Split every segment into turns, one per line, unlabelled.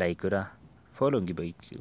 Like godhaa following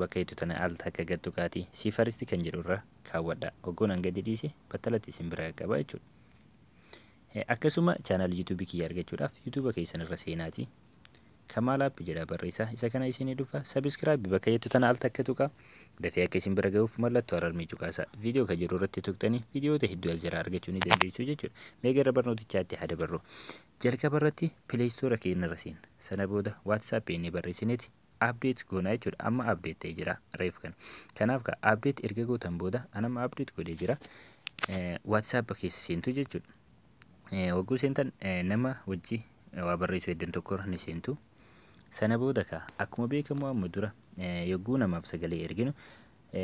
bakka jettu tana al takka gad tuqaati see first kan jedhu irra kaawwadha oggoon an gadi dhiise battalatti isin bira qaqqaba jechuudha akkasuma channel youtube kiyya argachuudhaaf youtube keessan irra seenaati kamaal app jedha barreessaa isa kana isinii dhufa subscribe bakka jettu tana al takka tuqa dafee akka isin bira ga'uuf mallattoo ararmii cuqaasa viidiyoo kan jedhu irratti tuqxanii viidiyoota hedduu as jala argachuu ni dandeessu jechuudha mee gara barnootichaatti haa dabarru Jalqaba irratti play store keenya irra seenna. Sana booda WhatsApp inni barreessineeti update goona jechuudha. Amma update ta'ee jira reef kana. Kanaaf ka update erga gootan booda an amma update godhee jira. Eh, WhatsApp keessa seentu jechuudha. Eh, Wagguu seentan eh, nama wajji eh, waa barreessuu heddan tokko irra ni seentu. Sana booda ka akkuma beekamu amma dura eh, yogguu namaaf sagalee erginu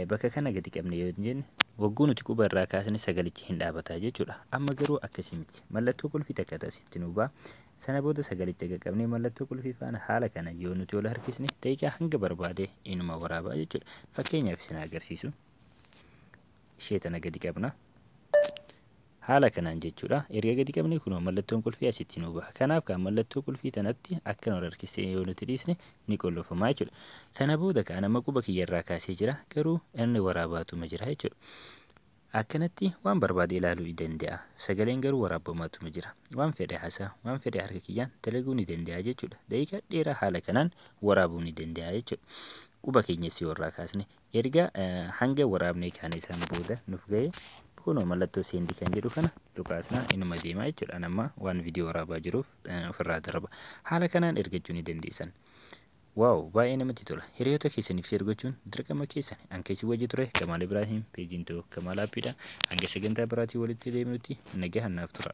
Bakka kana gadi qabne yoo jenne wagguu nuti quba irraa kaasne sagalichi hin dhaabata jechuudha. Amma garuu akkasii miti. Mallattoo qulfii takka asitti nu ba'a. Sana booda sagalicha qaqqabnee mallattoo qulfii faana haala kana yoo nuti ol harkisne daqiiqaa hanga barbaade inuma waraabaa jechuudha. Fakkeenyaaf isin agarsiisu. Ishee tana gadi qabna. Haala kanaan jechuudha erga gadi qabnee kunoo mallattoon qulfii asitti nuu baha. Kanaaf kaa mallattoo qulfii tanatti akka nu harkisee yoo nuti dhiisne ni qullufamaa jechuudha. Kana booda kaa nama quba kiyya irraa kaasee jira garuu inni waraabaatuma jira jechuudha. Akkanatti waan barbaade ilaaluu ni danda'a. Sagaleen garuu waraabamaatuma jira. Waan fedhe haasaa, waan fedhe harka kiyyaan dalaguu ni danda'a jechuudha. Daqiiqaa dheeraa haala kanaan waraabuu ni danda'a jechuudha. Quba keenyas yoo irraa kaasne Erga hanga waraabnee kaanee san booda nuuf ga'e kunoo mallattoo seendi kan jedhu kana cuqaasnaa inuma deemaa jechuudha. Ani amma waan viidiyoo waraabaa jiruuf ofirraa darba. Haala kanaan ergachuu ni dandeessan. Waaw baay'ee namatti tola. Hiriyoota keessaniif sheer gochuun dirqama keessan. An keessi wajji ture Kamaal Ibraahim peejiin too Kamaal Aappiidha. Hanga sagantaa biraatii walitti deebinutti nagahan naaf tura.